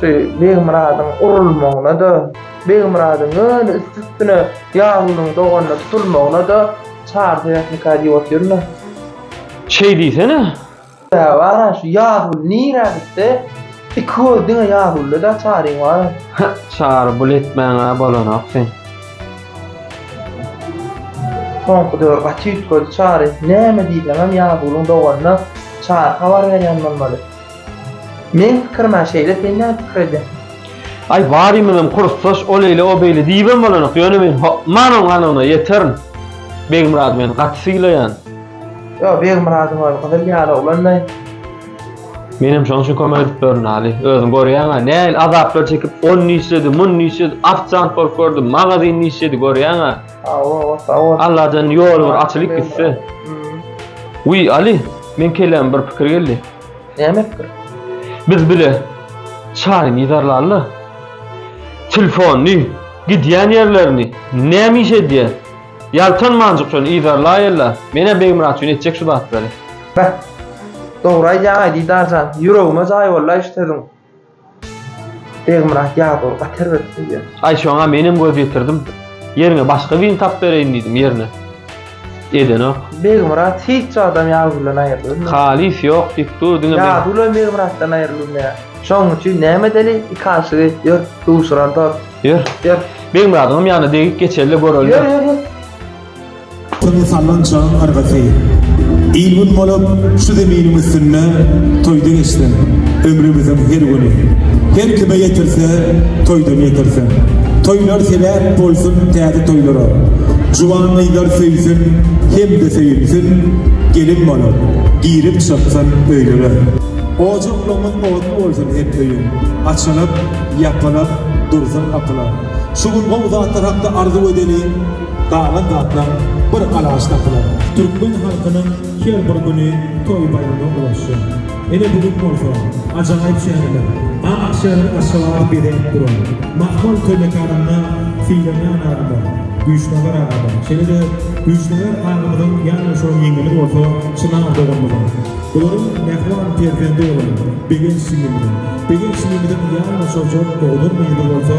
Şu Begmyradyň urulmagyna-da, Begmyradyň ýöne üsti-üstüne Ýagulyň doganyna tutulmagyna-da Çary sebäp nika diýip otyrmy? Şeý diýsene! Sebäbi bar-a, şu Ýaguly nirä gitse, iki gözi diňe Ýagulda-da Çaryň bar-a. Hä, Çary, bul etmäň-ä bolanok sen. Soňky döwür gaty üýtgedi Çary. Näme diýseňem Ýagulyň doganyna Çary habar berýän bolmaly. Meň pikirime şeýle sen näme pikir edýäň? Aý barymyzam kursdaş ol eýle o beýle diýibem bolanok ýöne men hokman oň ganyna ýeterin. Begmyrady men gaty sylaýan. Ýo Begmyradyň özi gyzyl ýaly oglan daýy. Menem şoň üçin kömek edip ýörün Aly. Özüň görýäňä nähili azaplar çekip on niçedi mun niçedi ofisant bolup gördüm magazin niçedi görýäňä. Alladan ýol bir açylyp gitse. Uý Ali, men kelläme bir pikir geldi. Näme pikir? Biz bile çaýyny ýydarlaly. Telefony, gidýän ýerlerini, näme iş edýär? Ýaltanmanjyk şony ýydarlaýyla. Menä Begmyrat üçin etjek şu zatlary. Beh. Dogry aýdýaň Aýdidar jan. Ýüregime jaý boldy-aý şu sözüň. Begmyrat ýazow gaty erbet söýýär. Aý şoňa menem göz ýetirdim. Ýeriňe başga birini tapyp bereýin diýdim ýerine. Edenok. Begmyrat hiç wagtam Ýazuw bilen aýrylybilmedi. Halys ýok diýip dur diňe men. Ýazuw bilen Begmyratdan aýrylybilmeýär. Şonuň üçin näme edeli iki aşygy ýör duşuralydar. Ýör. Ýör. Begmyradyňam ýanyna degip geçeli-de göreli. Ýör ýör ýör. Toýa sallan çagyň yrgysy. Il-gün bolup şu zeminiň üstünde toýda geçsin ömrümiziň her güni. Her kime ýetirse, toýdan ýetirsin. Toýlar sebäp bolsun täze toýlara. Juwan gyzlar söýsün hem-de söýülsin, gelin bolup girip çyksyn öýlere. Ojaklarymyz otly bolsun her öýüň, açylyp, ýapylyp dursun gapylar. Şu gün gowy zatlar hakda arzuw edeliň. Galan zatlar bir galaş tapylar. Türkmen halkynyň her bir güni toý-baýrama ulaşýar. Ine bu gün bolsa ajaýyp şäherler, ak şäher Aşgabat bezenip duran. Mahmal toý mekanynda Seýrenýaz agalar, Güýçnazar agalar, şeýle-de Güýçnazar agamyzyň ýanaşylan ýeňňesi bolsa Çynar doganymyzyň, bularyň mähriban perzendi bolan Begenç jigimiziň, Begenç jigimiziň ýalňyşa jok oglanmyzy bolsa,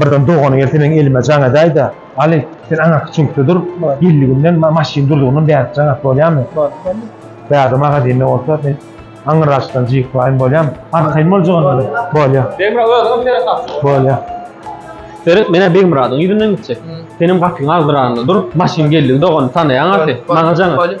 Birden dogany gelse meň elime jaň edäýdä. Aly, sen aňyrky çüňkde dur, geldiginden, maşyn durdugyndan bärik jaň at bolýamy? Bärde magazinde bolsa, men aňyrraçdan jyýklaýyn bolýamy? Arkaýyn boljagam ýaly. Bolýa. Begmyrat özüňem seret gapyny. Bolýa. Seret, men-ä Begmyradyň ýüzünden gitjek. Senem gapyň agzyragynda dur, maşyn geldigi dogany tanaýaň gaty, maňa jaň et.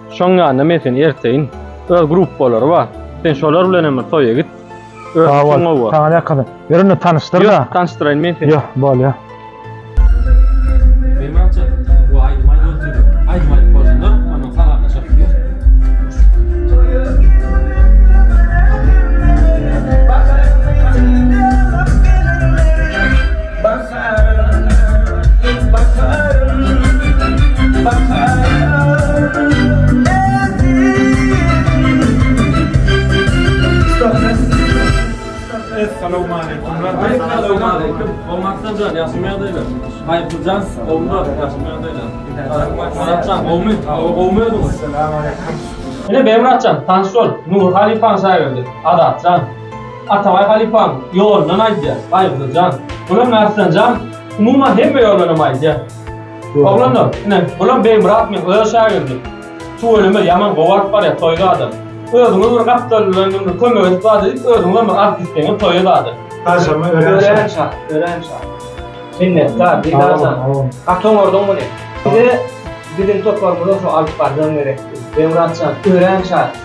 Şoň ýanyna men seni erteýin. Öz gruppalary bar. Sen şolar bilen hem bir toýa git. Sag bol. Saňa ne kyn. Ýör indi tanyşdyr da. Ýok, tanyşdyraýyn men seni. Ýok, bolýa. Ine, Beýmuratjan, tanyş bol, Nury halypanyň şägirdi, Azatjan. Atabaý halypaň ýolundan aýdýar, Baýguzly jan. Bulam Märslen jan, umuman hemme ýolundanam aýdýar. Oglanlar, ine, bulam Beýmyrat meň öz şägirdim. Tüweleme, ýaman gowy alyp barýar, toýly adam. Özüňiz bir gapdal bilen bir kömek edip bar diýip, özüňizem bir alyp gitseňiz toýa zady. Garşyma örän şat. Örän şat, örän şat. Minnetdar, Diýdar jan. Gaty oňardyň muny. Bize biziň toparymyza şo alyp barjagyň gerekdi. Beýmyrat jan, örän şat.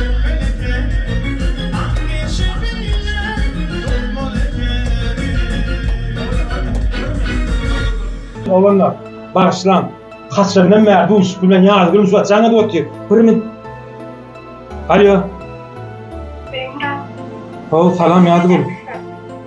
Ölmeli ekeni, ak meşe bile dolmaly ekeni. Oglanlar, bagyşlaň, haçandan bäri duşuşyk bilen ýaly gülüp şu jaň edip otyr. Biriniň Alýo. Salam Ýazgül.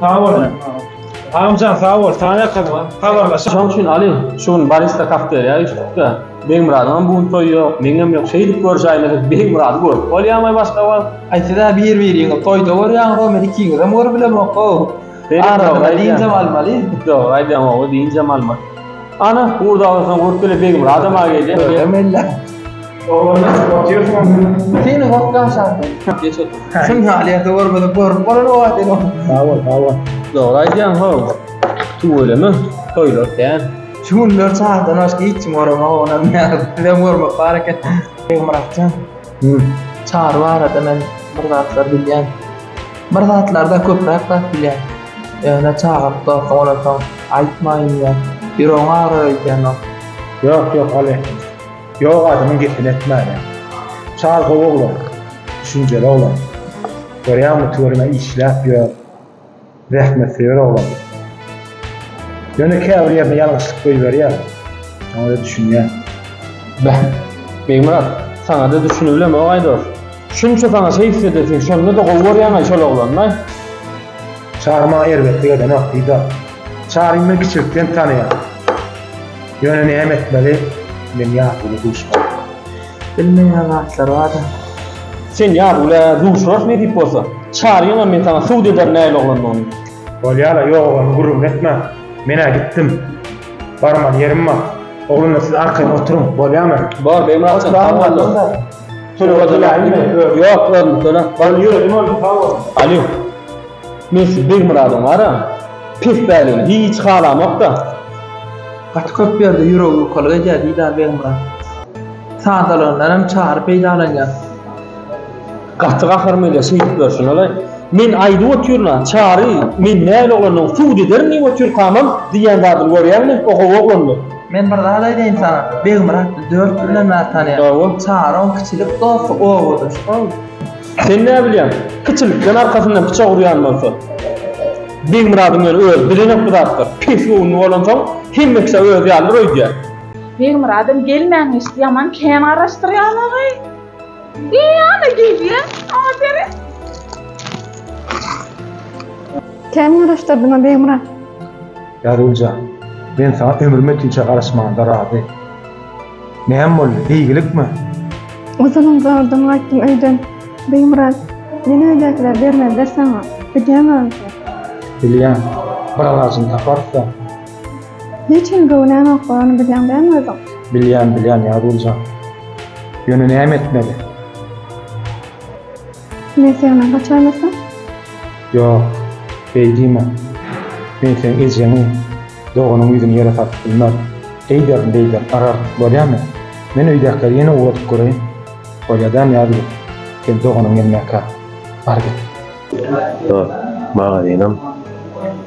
Sag boluň. Agamjan sag bol, saňa ýakadyma. Habarlaşyp. Şoň üçin alyň, şu gün barista kafeteriýa üýşdükde, Begmyradyň hem bu gün toýy ýok, meňem ýok. Şeýdip görüşäýmeli biz Begmyrady görüp bolýamy başga wagt? Aýtsa-da bir-biriňi toýda görýäňiz-ow, men ikiňizem görüp bilemok-ow. Aradyna diýinjem almaly. Dogry aýdýaň ogly, diýinjem almaly. Ana, gurdagyň üstüne gurup gele Begmyradam-a gelýä. Göremella. Oglanlar oturyşyň bilen. Seni wagt aşardy. Geç otur. Şun halyýeti görmedim. Görüp bolan o wagt ene. Sag bol, sag bol. Dogry aýdýaň how. Tüweleme. Toýlar kän. Şu günler çardan başga hiç kim göremok onam nädip. Bizem görmek bar eken. Begmyratjan. Hümm. Çary barada men bir zatlar bilýän. Bir zatlardan köpräk zat bilýän. Ýöne çagyryp dursaň olarsoň aýtmaýyn diýýän. Ýüregiň agyrar öýdýän ol. Ýok, ýok, Aly. Ýok adamyň gepini etmäne. Çar gowy oglan. Düşünjeli oglan. Görýäňmi tüweleme işläp ýör. Zähmetsöýer oglan. Ýöne käbir ýerine ýalňyşlyk goýberýär. Şoňa-da düşünýän. Beh, Begmyrat, saňa-da düşünibilem-ow aýdos. Şunça saňa şeýtse edesiň, şonda-da gowy görýäň-aý şol oglany-laý. Çar maňa erbetlik edenok, Didar. Çary men kiçilikden tanaýan. Ýöne näme etmeli, men Ýazgüle duşman. Bilmeýän zatlar bar-da. Sen Ýazgülä duşurarys nesip bolsa. Çaryňam men saňa subut ederin nähili oglandygyny. Bolýar-a, ýok oglumy gürrüňini etme. Men-ä gitdim. Barmaly ýerim bar. Oglanlar siz arkaýyn oturyň, bolýamy? Bor, Begmyrat jan, sag bol. Ýok özüm töläp bar. Alo. Men sizi Begmyradyň bara. Pes bäligini hiç halamokda. Gaty köp ýerde ýüregi ýukalyk edýär diýdä Begmyrat. Sadalygyndan hem Çary peýdalanýar. Gaty gaharym gelýär şeýdip ýörşüne-le. Men aýdyp otyryn-a, Çary, men näl oglandygymy subut ederin diýip otyrkamam, diýýän zadyny görýäňmi? O gowy oglandy. Men bir zat aýdaýyn saňa, Begmyratly dört ýyldan bäri tanýan. Sag bol. Çaryň kiçilik dosty obadaş boldy. Sen näbilýäň, kiçilikden arkasyndan pyçak urýan bolsa. Begmyradyň ýöne özi bilenok bu zatlar. Pis göwünli bolansoň, hemme kişä özi ýalydyr öýdýär. Begmyradam gelmäň eşit, ýaman kän garaşdyrýaňaý. Eý, ana gelýä, aferin. Kän garaşdyrdyňa Begmyrat. Bägül jan, men saňa ömrüme tüýçe garaşmaganda razy. Näme boldy, beýgilikmi? Uzynam zordan gaýtdym öýden. Beýmyrat, ýene öýdäkiler bermezler saňa. Bilýäňmi onsa? Bilýän. Bir alajyny taparys-da. Hiç hili göwünämok bolany bilýäň dälmi özüň? Bilýän, bilýän, Ýagül jan. Ýöne näme etmeli? Men seňden gaçaýmasam? Ýok, beý diýme. Men seň ejeňi, doganyň ýüzüni ýere salyp bilmer. Eýderin, beýderin, garardyk, bolýamy? Men öýdäkileri ýene ugradyp göreýin. Bolýa-da, Nyýazgül, sen doganyň gelmäkä, bar git. Dost, magazynam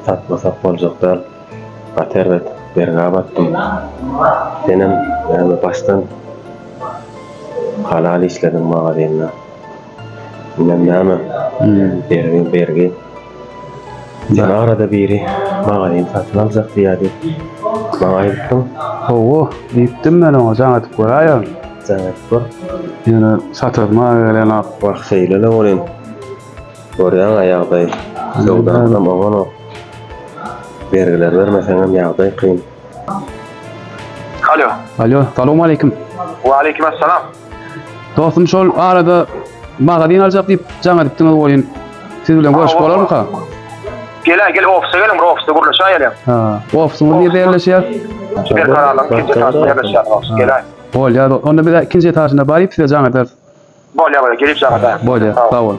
satmasak boljak däl. Gaty erbet, bergä batdym. Senem näme başdan halal işlediň magazynda. Inem näme? Bergi, bergi. Sen arada biri magazin satyn aljak diýýärdi. Maňa aýdypdyň. Hawa, diýipdim men oňa, jaň edip göräýerin. Jaň edip gör. Ýöne satasy maňa gelenok. Wah, şeýle-le welin, görýäň-ä ýagdaýy. Söwdamyzam oňanok. Bergileri bermeseňem ýagdaý kyn. Alo. Alo, salowmaleýkim. Waleýkim assalam. Dostum şol arada magazin aljak diýip jaň edipdiňiz oýun. Siz bilen görüşip bolarmyka? Gel, gel ofise geliň, bir ofiste gürleşäýe geliň. Ha, ofisyňyz nirde ýerleşýär? Berkaralyň ikinji etažynda ýerleşýär ofis. Gel. Bolýar, onda biz ikinji etažyna baryp size jaň ederis. Bolýar, bolýar, gelip jaň ederis. Bolýar, sag boluň.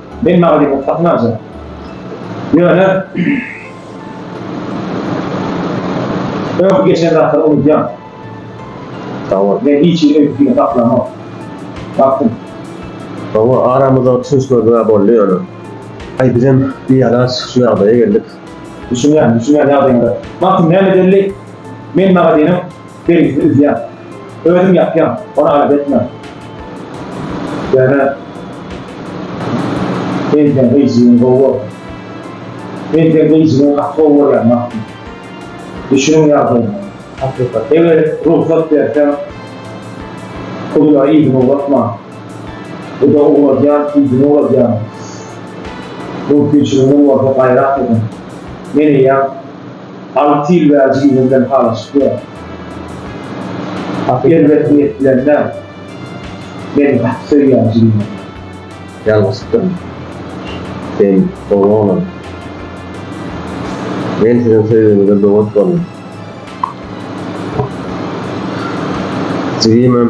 Men maglumat satyn aljak. Ýöne öňki geçen zatlary unudýan. Hawa. Men hiç hili öýdüp ýüre saklanok. Baktym. Hawa, aramyzdaky düşünişmezlig-ä boldy ýöne. Aý, bizem bialaç şu ýagdaýa geldik. Düşünýän, düşünýän ýagdaýyňda. Baktym, näme dälli? Men magazynyň. Beýlisi üzýär. Özüm ýapýan. Ony alada etmän. Ýöne men sen gyjygyň gowy bolsun. Men sen gyjygyň gaty gowy görýän Magtym. Düşüniň ýagdaýyma. Hakykat. Eger rugsat berseň Kuzulara yzyny ugratman. Guda ugradýan, yzyny ugradýan. Mümkinçiligiňiz bolsa gaýrat ediň. Men eýýäm. Alty ýyl bäri jigimden halaşyp ýörün. Erbet niýet bilen däl. Meni gaty söýýär jigimem. Ýalňyşypdyryn. Sen dogry oglan. Men siziň söýgiňize böwet boldum. Jigimem.